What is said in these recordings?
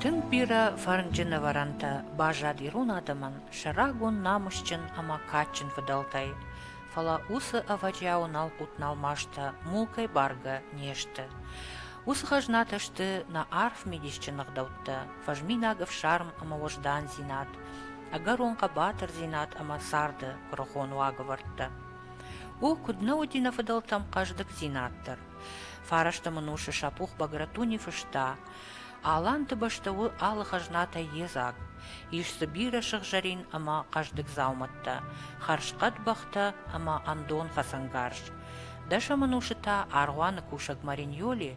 Тынг бирӕ фӕрнджын ӕвӕрӕнтӕ баззад ирон адӕмӕн сӕ рагон намысджын ӕмӕ кадджын фыдӕлтӕй, фӕлӕ уыцы ӕвӕджиауы налхъуыт-налмастӕ мул кӕй бӕргӕ не сты. Уыцы хӕзнатӕ сты нӕ арф мидисджын ӕгъдӕуттӕ, фӕзминаг ӕфсарм ӕмӕ уӕздандзинад, ӕгӕрон хъӕбатырдзинад ӕмӕ царды куырыхон уагӕвӕрдтӕ. У куыд нӕ уыди нӕ фыдӕлтӕм хъӕздыгдзинад дӕр. Фарӕстӕм ын усы Сапух Багратуни фыста: «Аланты бӕстӕ у алы хӕзнатӕй йедзаг. ис дзы бирӕ сыгъзӕрин ӕмӕ хъӕздыг дзаумӕттӕ, хӕрзхъӕд бӕхтӕ ӕмӕ ӕндон хӕцӕнгарз. дӕсӕм ын усы та аргъуаны кусӕг Мариньоли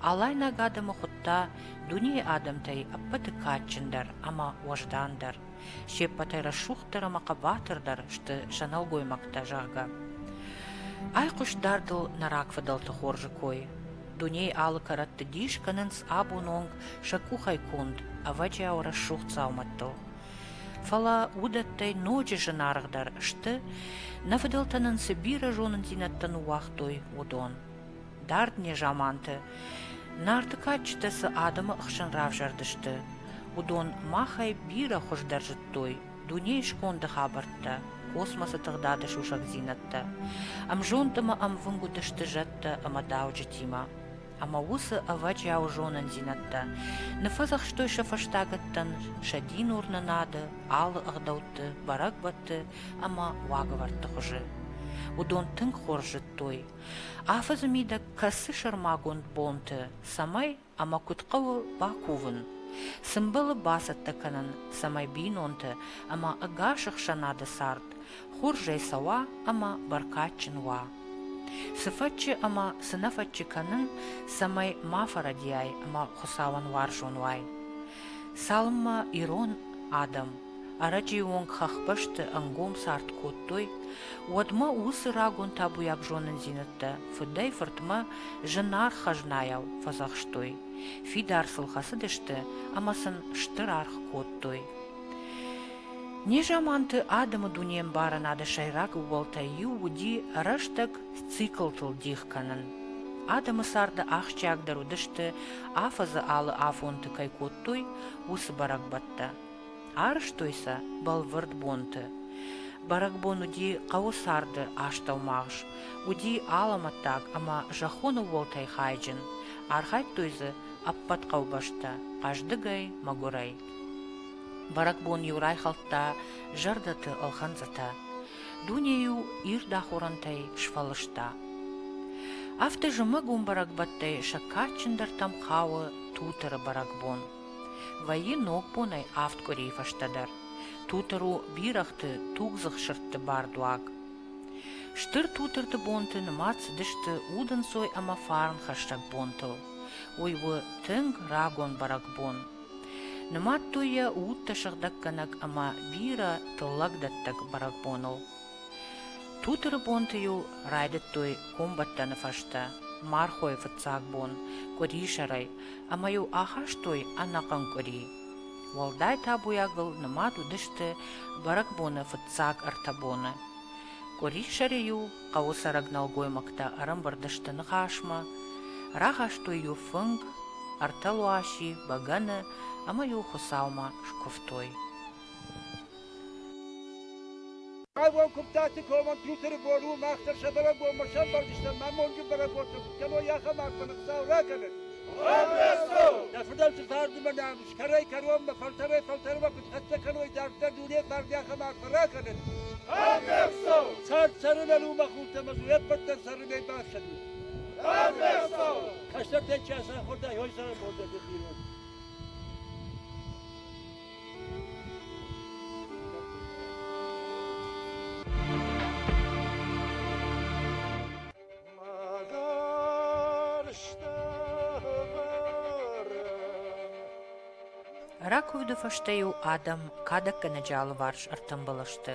алайнаг адӕмы хуыдта дунейы адӕмтӕй ӕппӕты кадджындӕр ӕмӕ уӕздандӕр. се ппӕтӕй рӕсугъддӕр ӕмӕ хъӕбатырдӕр сты сӕ нӕлгоймӕгтӕ, зӕгъгӕ. Айхъуыст дардыл нӕ рагфыдӕлты хорзы кой. Дунейы алы кӕрӕтты дис кӕнынц абон онг сӕ къухӕй конд, ӕвӕджиау рӕсугъд дзаумӕттыл. Фӕлӕ уыдӕттӕй ноджы зынаргъдӕр сты, нӕ фыдӕлтӕ нын цы бирӕ зонындзинӕдтӕ ныууагътой, уыдон. Дард незаманты Нарты кадджытӕ цы адӕмы ӕхсӕн равзӕрдысты, уыдон махӕй бирӕ хуыздӕр зыдтой дунейы сконды хабӕрттӕ, космосы тыгъдады сусӕгдзинӕдтӕ. Ӕмзонд ӕмӕ ӕмвынг уыдысты зӕдтӕ ӕмӕ дауджытимӕ. Ӕмӕ уыцы ӕвӕджиауы зонындзинӕдтӕ ныффӕдзӕхстой сӕ фӕстагӕттӕн сӕ дин уырны нады, алы ӕгъдӕутты, бӕрӕгбӕтты ӕмӕ уагӕвӕрдты хуызы. Уыдон тынг хорз зыдтой Афӕдзы мидӕг кӕсы сӕрмагонд бонты, цӕмӕй ӕмӕ куыд хъӕуы бакувын. Сымбылы бацӕттӕ кӕнын, цӕмӕй бинонты ӕмӕ ӕгас ӕхсӕнады цард хорзӕй цӕуа ӕмӕ бӕркадджын уа. Цы фӕччы ӕмӕ цы нӕ фӕччы кӕнын, цӕмӕй ма фӕрӕдийай ӕмӕ Хуыцауӕн уарзон уай. Цалынмӕ ирон адӕм Ӕрӕджыйы онг хӕхбӕсты ӕнгом цард кодтой, уӕдмӕ уыцы рагон табуйаг зонындзинӕдтӕ фыдӕй-фыртмӕ зынаргъ хӕзнайау фӕдзӕхстой, фидар сыл хӕцыдысты ӕмӕ сын стыр аргъ кодтой. Незаманты адӕмы дунеӕмбарынады сӕйраг ууӕлтӕй иу уыди рӕстӕг циклтыл дих кӕнын. Адӕмы царды ахсджиагдӕр уыдысты, афӕдзы алы афонты кӕй кодтой, уыцы бӕрӕгбӕттӕ. Арызтой сӕ бӕлвырд бонты. Бӕрӕгбон уыди хъӕуы царды астӕумагъз, уыди алӕмӕттаг ӕмӕ зӕххон ууӕлтӕй хайджын, архайдтой дзы ӕппӕт хъӕубӕстӕ хъӕздыгӕй, мӕгуырӕй. Бӕрӕгбон-иу райхӕлдта зӕрдӕты ӕлхӕнцъытӕ. Дуне-иу ирд ахорӕнтӕй сфӕлыста. Афтӕ зымӕг уым бӕрӕгбӕттӕй сӕ кадджындӕртӕм хауы Тутыры бӕрӕгбон. Вӕййы ногбонӕй авд къуырийы фӕстӕдӕр. Тутыр у бирӕгъты тугдзых сырдты бардуаг. Стыр тутырты бонты нымад цыдысты удӕнцой ӕмӕ фарн хӕссӕг бонтыл. Уый у тынг рагон бӕрӕгбон. Нымадтой йӕ удтӕ сыгъдӕггӕнӕг ӕмӕ бирӕ тыллӕгдӕттӕг бӕрӕгбоныл. Тутыры бонты-иу райдыдтой комбӕттӕны фӕстӕ мархойы фыццаг бон къуырисӕрӕй ӕмӕ-иу ахастой ӕнӕхъӕн къуыри. Уӕлдай табуйагыл нымад уыдысты бӕрӕгбоны фыццаг ӕртӕ боны. Къуырисӕры-иу хъӕуы цӕрӕг нӕлгоймӕгтӕ ӕрӕмбырд сты ныхасмӕ, рахастой-иу фынг, ӕртӕ луаси, бӕгӕны ӕмӕ-иу Хуыцаумӕ скуывтой. Хъавон куптаты команд Тутері бон у мах дӕр сӕ бӕрӕгбонмӕ сӕмбӕрдыстӕм, мамонджы бӕрӕгбонты куыд кӕной ахӕм арфӕны Хуыцау ракӕнӕд! Нӕ фыдӕлты цардимӕ нӕм скӕрӕй кӕронмӕ фӕлтӕрӕй фӕлтӕрмӕ куыд хӕццӕ кӕной дарддӕр дунейы фарн ахӕм арфӕ ракӕнӕд! Цард цӕрынӕн у мах уылты ӕмӕ дзы уе ппӕт дӕр цӕрынӕй бафсӕдут! Кӕстӕртӕн чи ацахуырдӕй, ой зарӕн бон дӕр дын ирон! Ракуывды фӕстӕ-иу адӕм кадӕггӕнӕджы алыварс ӕртӕмбӕлы сты.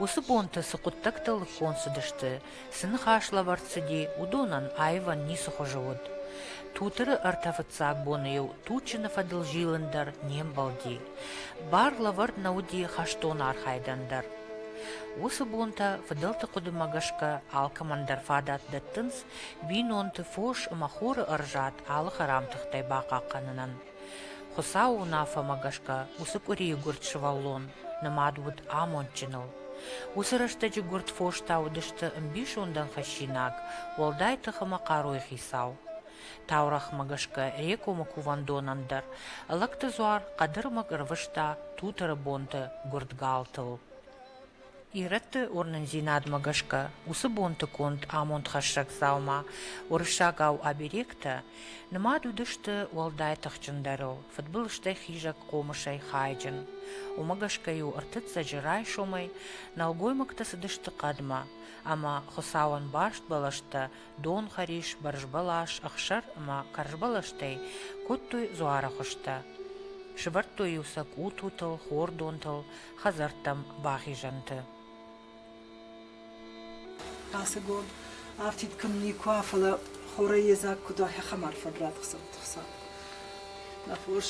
Уыцы бонтӕ цы хъуыддӕгтӕ лыггонд цыдысты, цы ныхаслӕвӕрд цыди, уыдонӕн аивӕн ницы хуызы уыд. Тутыры ӕртӕ фыццаг боны-иу Тучины фӕдыл зилын дӕр не мбӕлди. Бар лӕвӕрд нӕ уыди хӕстон архайдӕн дӕр. Уыцы бонтӕ фыдӕлты хъуыдымӕ гӕсгӕ алкӕмӕндӕр фадат дӕттынц бинонты фос ӕмӕ хоры ӕрзад алы хӕрам тыхтӕй бахъахъхъӕнынӕн. Хуыцауы уынаффӕмӕ гӕсгӕ уыцы къуырийы гуырд сывӕллон нымад уыд амондджыныл. Уыцы рӕстӕджы гуырд фостӕ уыдысты ӕмбисондӕн фӕссинаг, уӕлдай тых ӕмӕ хъаруйы хицау. Таурӕгъмӕ гӕсгӕ Рекомы кувӕндонӕн дӕр Ӕлӕгты дзуар хъӕдырмӕг ӕрвыста Тутыры бонты гуырд галтыл. Ирӕтты уырнындзинадмӕ гӕсгӕ, уыцы бонты конд амондхӕссӕг дзаума уырыссагау оберегтӕ нымад уыдысты уӕлдай тыхджындӕрыл, фыдбылызтӕй хизӕг хъомысӕй хайджын. Уымӕ гӕсгӕ-иу ӕртыццӕджы райсомӕй нӕлгоймӕгтӕ цыдысты хъӕдмӕ, ӕмӕ Хуыцауӕн барст бӕлӕстӕ дон, хӕрис, бӕрзбӕлас, ӕхсӕр ӕмӕ кӕрзбӕлӕстӕй кодтой дзуары хуызтӕ. Сывӕрдтой-иу сӕ къутутыл, хордонтыл, хӕдзӕрттӕм бахизӕнты. Ацы гон афтид кӕм никуа, фӕлӕ хорӕй едзаг куыд ахӕм арфӕг радхсӕд. Нӕ фос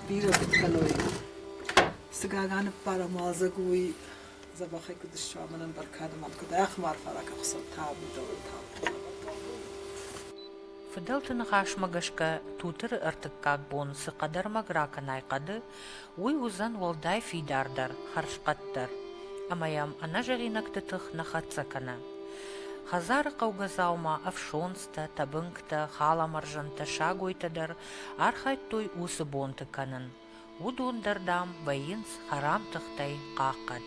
бирӕ куыд кӕной. Цы гага ныппарам уалдзӕг уый забахӕй куыд ссуамӕнӕн бӕркадымӕн куыд ӕхмарфа ракахсӕд табудӕуӕн Фыдӕлты ныхасмӕ гӕсгӕ Тутыры ӕртыккаг бон цы хъӕдӕрмӕг ракӕнай хъӕды, Уый уыдзӕн уӕлдай фидардӕр, хӕрзхъӕддӕр ӕмӕ йӕм ӕнӕзӕгъинӕгты тых нӕ хӕццӕ кӕны. Хӕдзары хъӕугӕдзаумӕ ӕфсонцтӕ, тӕбынгтӕ, халамӕрзӕнтӕ, сагойтӕ дӕр архайдтой уыцы бонты кӕнын. Уыдон дӕр, дам, вӕййынц хӕрам тыхтӕй хъахъхъӕд.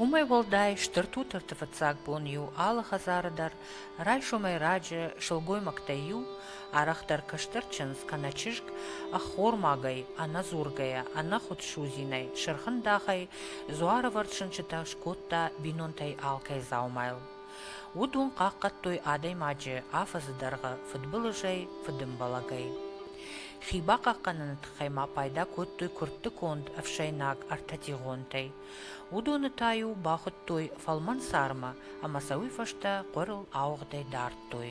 Уымӕй уӕлдай стыр Тутырты фыццаг бон иу алы хӕдзары дӕр райсомӕй раджы сылгоймӕгтӕй иу, арӕхдӕр кӕстӕр чындз кӕнӕ чызг, ӕххормагӕй, ӕнӕдзургӕйӕ, ӕнӕхуд судзинӕй, сырхӕндахӕй дзуарӕвӕрд сынчытӕ скодта бинонтӕй алкӕй дзаумайыл. Уыдон хъахъхъӕдтой адӕймаджы афӕдзы дӕргъы фыдбылызӕй, фыдымбӕлӕгӕй. Хи бахъахъхъӕныны тыххӕй ма пайда кодтой куыртты конд ӕфсӕйнаг ӕртӕтигъонтӕй. Уыдоны та-иу бахуыдтой фӕлмӕн сармы ӕмӕ сӕ уый фӕстӕ хъуырыл ауыгъдӕй дардтой.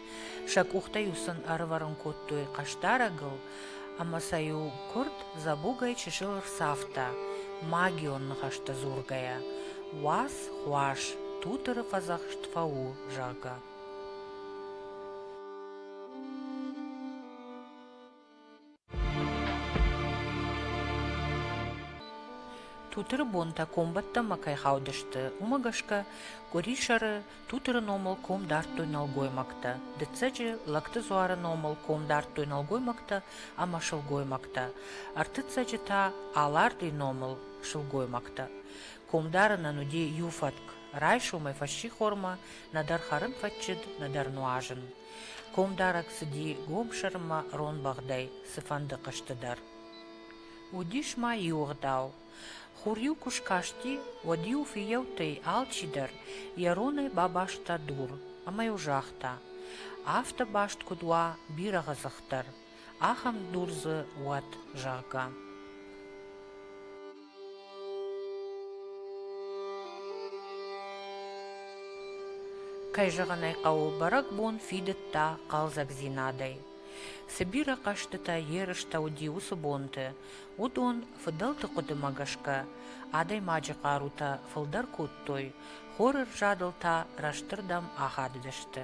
Сӕ къухтӕ-иу сын ӕрывӕрын кодтой хъӕсдарӕгыл, ӕмӕ сӕ-иу куырд дзӕбугӕй чысыл ӕрцавта, магион ныхӕстӕ дзургӕйӕ, уац, хуас, тутыры фӕдзӕхст фӕу, зӕгъгӕ. Тутыры бонтӕ комбӕттӕмӕ кӕй хаудысты, уымӕ гӕсгӕ къуырисӕры Тутыры номыл ком дардтой нӕлгоймӕгтӕ, дыццӕджы Лӕгты дзуары номыл ком дардтой нӕлгоймӕгтӕ ӕмӕ сылгоймӕгтӕ, ӕртыццӕджы та Аларди номыл сылгоймӕгтӕ. Комдарынӕн уыди иу фӕтк, райсомӕй фӕссихормӕ нӕдӕр хӕрын фӕччыд, нӕдӕр нуазын. Комдарӕг цыди гомсӕрмӕ ронбӕгъдӕй цыфӕнды хъызты дӕр. Уыдис ма иугъдау. Хур-иу куы скасти, уӕд-иу фыййӕуттӕй алчидӕр йӕ ронӕй бабаста дур ӕмӕ-иу загъта: «Афтӕ баст куыд уа бирӕгъы дзых дӕр! ахӕм дур дзы уӕд, зӕгъгӕ. Кӕй зӕгъын ӕй хъӕуы, бӕрӕгбон фидыдта хъӕлдзӕгдзинадӕй. Цы бирӕ хъӕзтытӕ ерыстӕ уыди уыцы бонты, уыдон, фыдӕлты хъуыдымӕ гӕсгӕ, адӕймаджы хъарутӕ фылдӕр кодтой, хоры рзадыл та рӕстырдӕм ахадыдысты.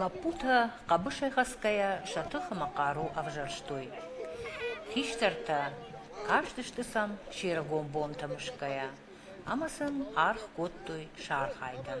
Лӕппутӕ, хъӕбысӕйхӕцгӕйӕ, сӕ тыхымӕ хъару ӕвзӕрстой. Хистӕртӕ кастысты сӕм се ргом бонтӕ мысгӕйӕ ӕмӕ сын аргъ кодтой сархайдӕн.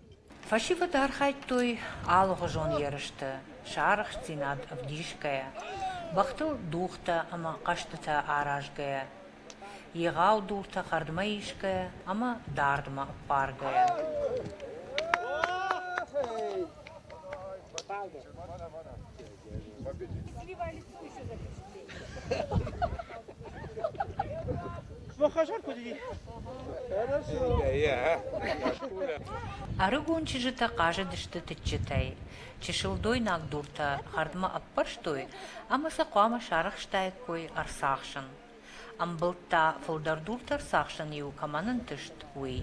Фӕсивӕд архайдтой алыгъуызон ерысты, сарӕхстдзинад ӕвдисгӕйӕ, бӕхтыл дугътӕ ӕмӕ хъӕзтытӕ аразгӕйӕ, егъау дуртӕ хӕрдмӕ исгӕйӕ ӕмӕ дардмӕ ӕппаргӕйӕ. Ӕрыгон чызджытӕ хъазыдысты тыччытӕй. Чысыл дойнаг дуртӕ хӕрдмӕ ӕппӕрстой ӕмӕ сӕ хъуамӕ сарӕхстаиккой ӕрцахсын. Ӕмбылдта, фылдӕр дуртӕ ӕрцахсын-иу кӕмӕн ӕнтыст, уый.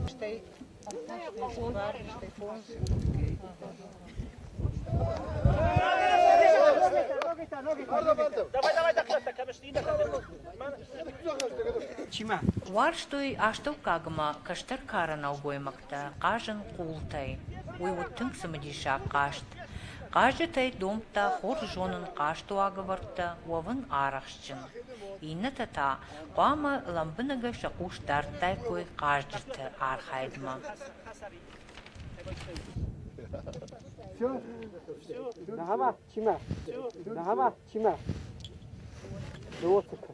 Стей бар, стей фонд. Варстой астӕуккагмӕ кӕстӕр кары нӕлгоймӕгтӕ. дӕ хъазын къултӕй. Уый уыд тынг цымыдисаг хъазт. Хъазджытӕй домдта хорз зонын хъазты уагӕвӕрдтӕ уӕвын арӕхстджын. Иннӕтӕ та хъуамӕ лӕмбынӕгӕй сӕ хъус дардтаиккой хъазджыты архайдмӕ. Все, нагава, чима, нагава, чима. Животика.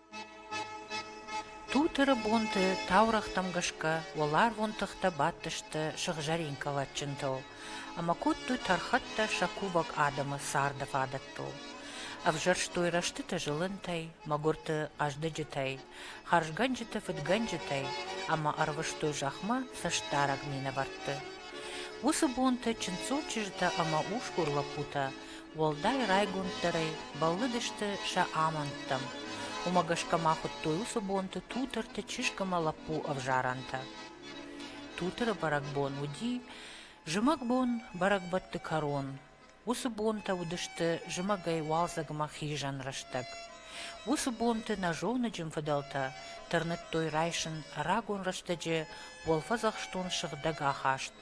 Тутыры бонты таурӕгътӕм гӕсгӕ уӕларвон тыхтӕ бадтысты сыгъзӕрин кӕлӕтджынтыл ӕмӕ кодтой тӕрхӕттӕ сӕ кувӕг адӕмы царды фадӕттыл. Ӕвзӕрстой рӕстыты зылынтӕй, мӕгуырты хъӕздыджытӕй, хӕрзгӕнджыты фыдгӕнджытӕй ӕмӕ ӕрвыстой зӕхмӕ цӕстдарӕг минӕвӕртты. Уыцы бонты чындзул чызджытӕ ӕмӕ усгур лӕппутӕ Уӕлдай райгонддӕрӕй бӕллыдысты сӕ амӕндтӕм. Уымӕ гӕсгӕ ма хуыдтой уыцы бонты Тутырты чызг ӕмӕ лӕппу ӕвзарӕнтӕ. Тутыры бӕрӕгбон уыди зымӕгбон бӕрӕгбӕтты кӕрон. Уыцы бонтӕ уыдысты зымӕгӕй уалдзӕгмӕ хизӕн рӕстӕг. Уыцы бонты нӕзоныджын фыдӕлтӕ тырныдтой райсын рагон рӕстӕджы уӕлфӕдзӕхстон сыгъдӕг ахаст,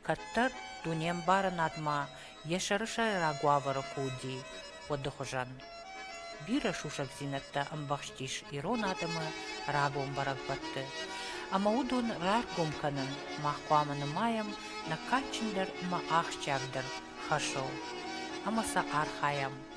Кӕддӕр дунембарынадмӕ йӕ сӕрысӕйраг уавӕры куы уыди, уӕды хуызӕн. Бирӕ сусӕгдзинӕдтӕ ӕмбӕхстис ирон адӕмы рагон бӕрӕгбӕтты, ӕмӕ уыдон раргом кӕнын мах хъуамӕ нымайӕм нӕ кадджындӕр ӕмӕ ахсджиагдӕр хӕсыл ӕмӕ сӕ архайӕм.